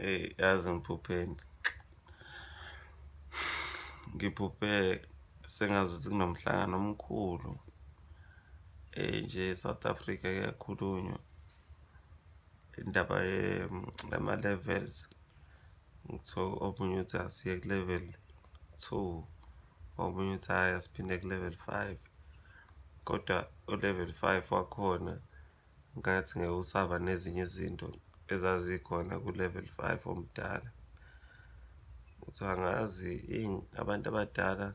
eyi yazi ngiphupheni ngiphuphe sengazi ukuthi kunomhlangano omkhulu um nje south africa kuyakhulunywa indaba yama-levels ngithiwa omunye uthi asiye ku-level two omunye uthi hhayi asiphinde ku-level five kodwa u-level five wakhona ngathi ngeke usaba nezinye izinto ezazikhona ku-level five omdala ukuthi angazi abantu abadala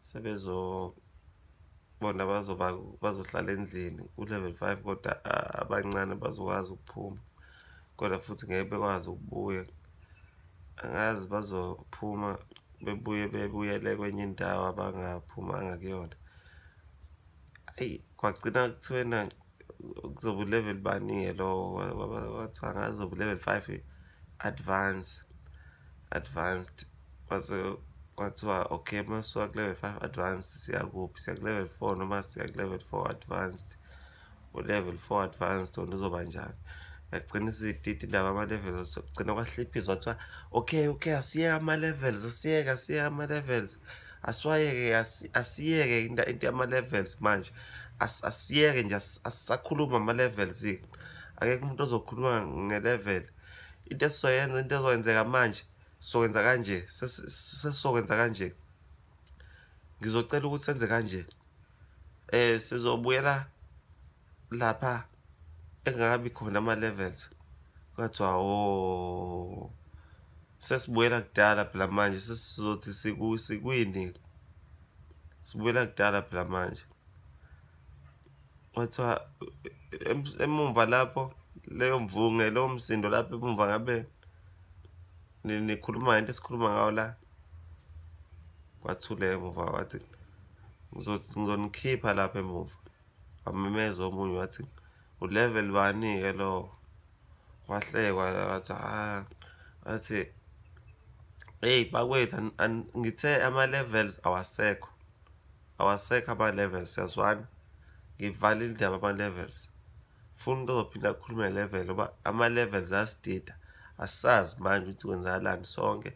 sebezobona bazoba bazohlala endlini ku-level five kodwa abancane bazokwazi ukuphuma kodwa futhi ngeke bekwazi ukubuya angazi bazophuma bebuye bebuyele kwenye indawo abangaphumanga kuyona ayi kwagcina kuthiwena kuzoba ulevel bani-ke lo kwathiwa ngazi zoba ulevel five advance advanced kwase kwathiwa okay masuka ku-level five advanced siyakuphi siya ku-level four noma siya ku-level four advanced u-level four advanced wona uzoba njani yagcina isititi ndaba ama-levels kugcina kwahliphiza kwathiwa okay okay asiyeke ama-levels asiyeke asiyeke ama-levels okay, okay, asiwayeke asiyeke into into yama levels manje asiyeke nje asakhuluma ama levels akekho umuntu ozokhuluma nge level into esizoyenza into ezokwenzeka manje sizokwenza kanje sesizokwenza kanje ngizocela ukuthi senze kanje eh sizobuyela lapha engakabi khona ama-levels kwathiwa o oh, sesibuyela kudala phela manje sesizothi sikwini sibuyela kudala phela manje kwathiwa emumva lapho leyo mvunge lowo msindo lapho emumva ngabe nikhuluma ngento esikhuluma ngawo la kwathule emuva wathi ngizonikhipha lapha emuva wamemeza omunye wathi ulevel bani-ke lowo wahlekwa wathi ah athi eyi bakwethu ngithe ama-levels awasekho awasekho ama-levels siyazwana ngivale indaba ama-levels funa umuntu ozophinda akhulume level oba ama-levels asidida asazi manje ukuthi kwenzakalani sonke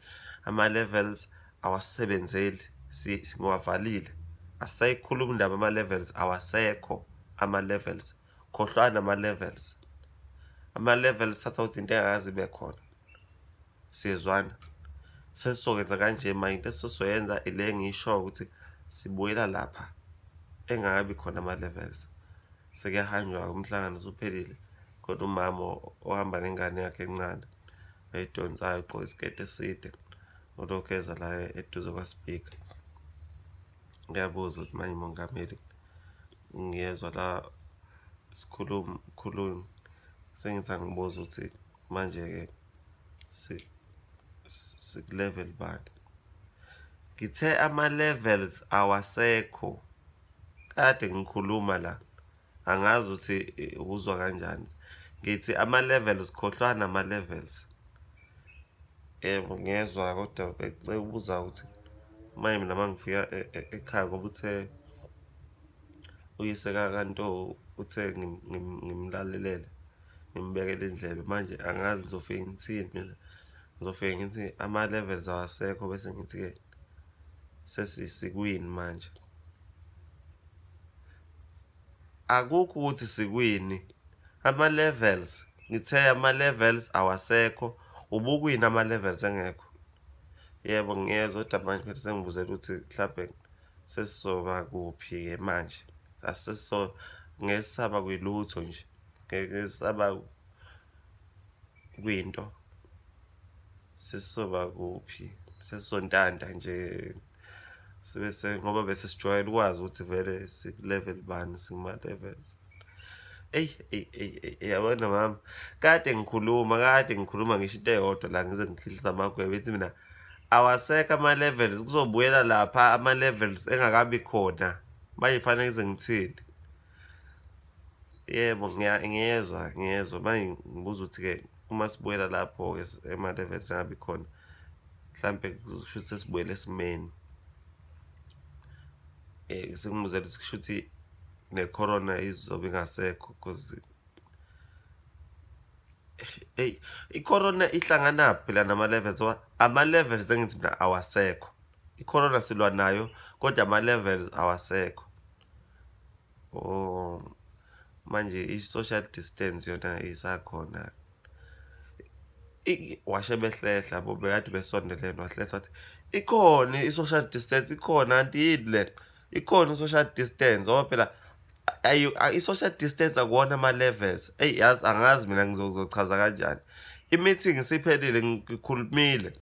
ama-levels awasebenzeli singiwavalile asayikhuluma indaba ama-levels awasekho ama-levels khohlwana ama-levels ama-levels thatha ukuthi into engakazi ibe khona siyezwana sesizokwenza kanje ma into esizoyenza ile ngisho ukuthi sibuyela lapha engakabi khona ama-levels sekuyahanjwa-ke umhlangano usuphelile kodwa umama ohamba nengane yakhe encane oyidonsayo ugqoke isiketi eside ulokhu eza la eduze kwasipika ngiyabuza ukuthi manje mongameli ngiyezwa la sikhulumi khulumi sengithi angibuza ukuthi manje-ke sikulevel bani ngithe ama-levels awasekho kade ngikhuluma la angazi ukuthi uzwa kanjani ngithi ama-levels khohlwana ama-levels yebo ngezwa kodwa becela ukubuza ukuthi maye mina uma ngifika e, e, ekhaya ngoba uthe uyise kakanto uthe ngimlalelele ngimbekele indlebe manje angazi ngizofike ngithini mina ngizofike ngithi ama-levels awasekho bese ngithi-ke sesikwini manje akukho ukuthi sikwini ama levels ngithe ama levels awasekho ubukwini ama levels engekho yebo ngiyezwa kodwa manje phethe sengibuzela ukuthi mhlawumbe sesizoba kuphi-ke manje asiso ngesaba kwilutho nje ngesaba kwinto sesizoba kuphi sesizontanta nje sibe se ngoba bese sijwayele ukwazi ukuthi vele sikulevel bani singuma-levels eyi eyi eyi yabona mama kade ngikhuluma kade ngikhuluma ngisho into eyodwa la ngize ngikhilisa amagwebe ethi mina awasekho ama-levels kuzobuyela lapha ama-levels engakabi khona manje kufanele ngize ngithini yebo ngiyezwa ngiyezwa manje ngibuza ukuthi-ke uma sibuyela lapho-ke ema-levels angabi khona mhlawumpe kusho ukuthi sesibuyele esimeni um eh, sengimuzela ukuthi kusho ukuthi ne-corona izobe ingasekho because eyi i-corona ihlanganaphi la nama-levels oba ama-levels engithi mina awasekho i-corona silwa nayo kodwa ama-levels awasekho oh manje i-social distance yona isakhona washe behlehla bo bekade besondelene wahlehla wathi ikhona i-social distance ikhona anti yini le ikhona i-social distance ngoba phela i-social distance akuwona ama-levels eyi yazi angazi mina ngizochaza kanjani i-meeting isiphelile ngikhulumile